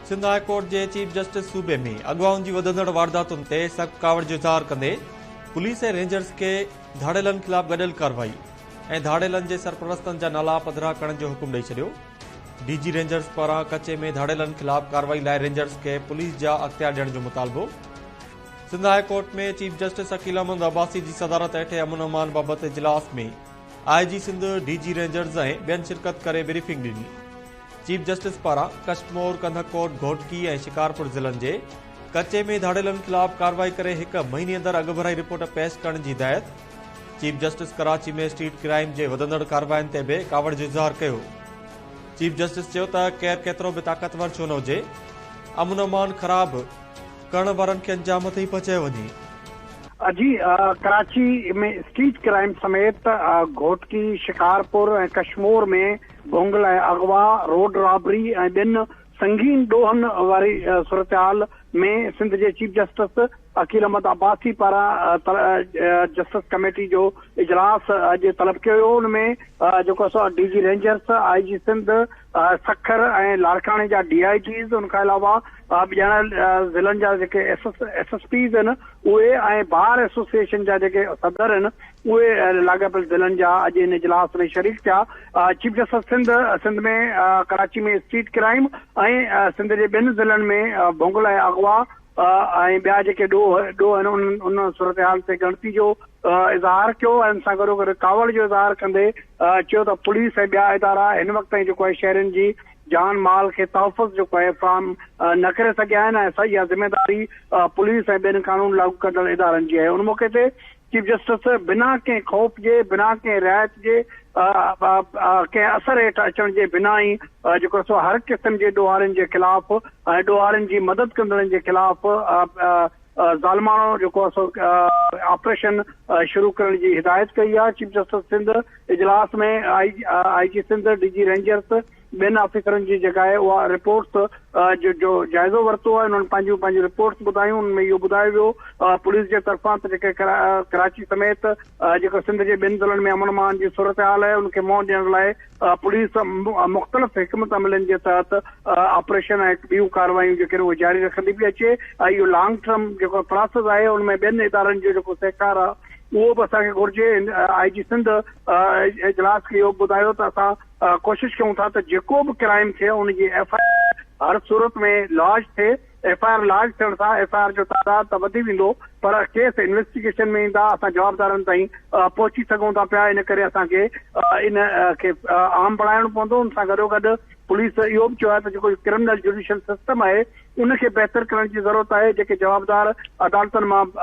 Sindh high court جي chief justice صوبي ۾ اغوائن جي وڌندڙ وارداتن تي سخت ڪاوڙ جو اظهار ڪندي پوليس ۽ رينجرز کي ڌاڙيلن خلاف گڏيل ڪارروائي ۽ ڌاڙيلن جي سرپرستن جا نالا پڌرا ڪرڻ جو حڪم ڏئي ڇڏيو ڊي جي رينجرز پاران ڪچي ۾ ڌاڙيلن خلاف ڪارروائي لاء رينجرز کي پوليس جا اختيار ڏيڻ جو مطالبو Sindh high court ۾ chief justice Aqeel Ahmed Abbasi جي صدارت هيٺ امن امان بابت اجلاس ۾ I G Sindh D G rangers ۽ ٻين شرڪت ڪري بريفنگ ڏني چيف جسٽس پاران ڪشمور، ڪنڌڪوٽ، گهوٽڪي ۽ شڪارپور ضلعن جي ڪچي ۾ ڌاڙيلن خلاف ڪارروائي ڪري هڪ مهيني اندر اڳڀرائي رپورٽ پيش ڪرڻ جي هدايت، chief justice Karachi ۾ street crime جي وڌندڙ ڪاررواين تي به ڪاوڙ جو اظهار ڪيو، چيف جسٽس چيو ته ڪير ڪيترو به طاقتور ڇو نه هجي امن امان خراب ڪرڻ وارن کي انجام تي ئي پهچايو وڃي. اڄ ڪراچي ۾ اسٽريٽ ڪرائيم سميت گهوٽڪي، شڪارپور ۽ ڪشمور ۾ ڀونگ لاء اغوا، روڊ رابري ۽ ٻين سنگين ڏوهن واري صورتحال ۾ سنڌ جي چيف جسٽس عقيل احمد عباسي پاران جسٽس ڪميٽي جو اجلاس اڄ طلب ڪيو ويو ان ۾ جيڪو سو D G rangers, I G Sindh, Sukkur ۽ لاڙڪاڻي جا ڊي آء جيز ان کان علاوه ڄاڻايل ضلعن جا جيڪي ايس ايس پيز آهن اهي ۽ بار ايسوسيئيشن جا جيڪي صدر آهن اهي لاڳاپيل ضلعن جا اڄ ان اجلاس ۾ شريڪ ٿيا. Chief justice Sindh Sindh ۾ Karachi ۾ street crime ۽ Sindh جي ٻين ضلعن ۾ ڀونگل ۽ اغوا ۽ ٻيا جيڪي ڏوهه ڏوهه آهن انهن ان صورتحال تي ڳڻتي جو اظهار ڪيو ۽ ان سان گڏو گڏ ڪاوڙ جو اظهار ڪندي چيو ته پوليس ۽ ٻيا ادارا هن وقت تائين جيڪو آهي شهرين جي جان مال کي تحفظ جيڪو آهي فراهم نه ڪري سگهيا آهن ۽ اها ذميواري پوليس ۽ ٻين قانون لاڳو ڪندڙ ادارن جي آهي ان موقعي تي چيف جسٽس بنا ڪنهن خوف جي، بنا ڪنهن رعايت جي، ڪنهن اثر هيٺ اچڻ جي بنا ئي جيڪو سو هر قسم جي ڏوهارين جي خلاف ۽ ڏوهارين جي مدد ڪندڙن جي خلاف ظالماڻو جيڪو سو آپريشن شروع ڪرڻ جي هدايت ڪئي آهي چيف جسٽس سنڌ اجلاس ۾ I G Sindh, D G rangers, ٻين آفيسرن جي جيڪا آهي اها رپورٽس جو جو جائزو ورتو آهي انهن پنهنجون پنهنجون رپورٽس ٻڌايون ان ۾ اهو ٻڌايو ويو پوليس جي طرفان ته جيڪي ڪراچي سميت جيڪو سنڌ جي ٻين ضلعن ۾ امن امان جي صورتحال آهي ان کي منهن ڏيڻ لاء پوليس مختلف حڪمت عملين جي تحت آپريشن ۽ ٻيون ڪاروايون جيڪي اهي جاري رکندي پئي اچي ۽ اهو لانگ ٽرم جيڪو پراسيس آهي ان ۾ ٻين ادارن جو جيڪو سهڪار آهي اهو به اسان کي گهرجي آء جي سنڌ اجلاس کي اهو ٻڌايو ته اسان ڪوشش ڪيون ٿا ته جيڪو به ڪرائيم ٿئي ان جي ايف آء آر هر صورت ۾ لارج ٿئي، ايف آء آر لارج ٿيڻ سان ايف آء آر جو تعداد ته وڌي ويندو پر ڪيس انويسٽيگيشن ۾ ايندا، اسان جوابدارن تائين پهچي سگهون ٿا پيا ان ڪري اسان کي ان کي عام بڻائڻو پوندو، ان سان گڏوگڏ پوليس اهو به چيو آهي ته جيڪو ڪرمنل جوڊيشل سسٽم آهي ان کي بهتر ڪرڻ جي ضرورت آهي، جيڪي جوابدار عدالتن مان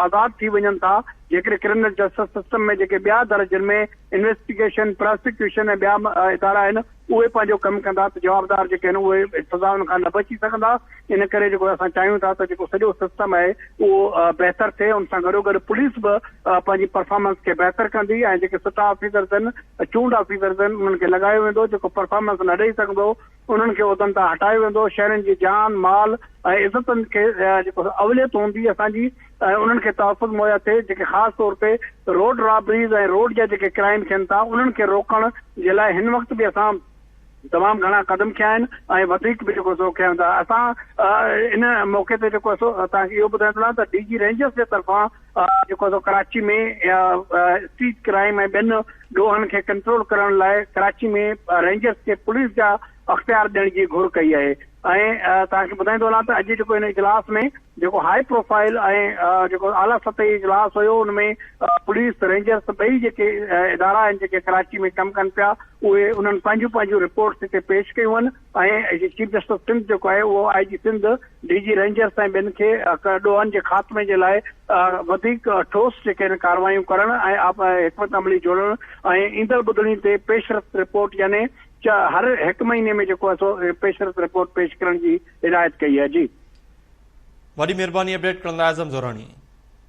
آزاد ٿي وڃن ٿا، جيڪڏهن ڪرمنل جسٽس سسٽم ۾ جيڪي ٻيا در جن ۾. انويسٽيگيشن، پراسيڪيوشن ۽ ٻيا ادارا آهن اهي پنهنجو ڪم ڪندا ته جوابدار جيڪي آهن اهي سزائن کان نه بچي سگهندا ان ڪري جيڪو اسان چاهيون ٿا ته جيڪو سڄو سسٽم آهي اهو بهتر ٿئي ان سان گڏو گڏ پوليس به پنهنجي پرفارمنس کي بهتر ڪندي ۽ جيڪي سٽا آفيسرز آهن چونڊ آفيسرز آهن انهن کي لڳايو ويندو جيڪو پرفارمنس نه ڏئي سگهندو انهن کي عهدن تان هٽايو ويندو، شهرين جي جان، مال ۽ عزتن کي جيڪو اوليت هوندي اسان جي ۽ انهن کي تحفظ مهيا ٿئي، جيڪي خاص طور تي روڊ رابريز ۽ روڊ جا جيڪي ڪرائيم ٿين ٿا انهن کي روڪڻ جي لاء هن وقت به اسان تمام گهڻا قدم کنيا آهن ۽ وڌيڪ به جيڪو سو کنيا ويندا، اسان ان موقعي تي جيڪو سو توهان کي اهو ٻڌائڻ ٿو چاهيان ته ڊي جي رينجرز جي طرفان جيڪو سو ڪراچي ۾ اسٽريٽ ڪرائيم ۽ ٻين ڏوهن کي ڪنٽرول ڪرڻ لاء ڪراچي ۾ رينجرز کي پوليس جا اختيار ڏيڻ جي گهر ڪئي آهي ۽ توهان کي ٻڌائيندو هلان ته اڄ جيڪو هن اجلاس ۾ جيڪو هاء پروفائل ۽ جيڪو اعليٰ سطحي اجلاس هيو ان ۾ پوليس رينجرز ٻئي جيڪي ادارا آهن جيڪي ڪراچي ۾ ڪم ڪن پيا اهي انهن پنهنجون پنهنجون رپورٽس هتي پيش ڪيون آهن ۽ چيف جسٽس آف سنڌ جيڪو آهي اهو I G Sindh, D G rangers ۽ ٻين کي ڏوهن جي خاتمي جي لاء وڌيڪ ٺوس جيڪي آهن ڪارروايون ڪرڻ ۽ حڪمت عملي جوڙڻ ۽ ايندڙ ٻڌڻي تي پيش رفت رپورٽ يعني هر هڪ مهيني ۾ جيڪو آهي سو پيش رفت رپورٽ پيش ڪرڻ جي هدايت ڪئي آهي. جي. وڏي مھرباني اپڊيٽ ڪرڻ لاء اعظم زوراڻي.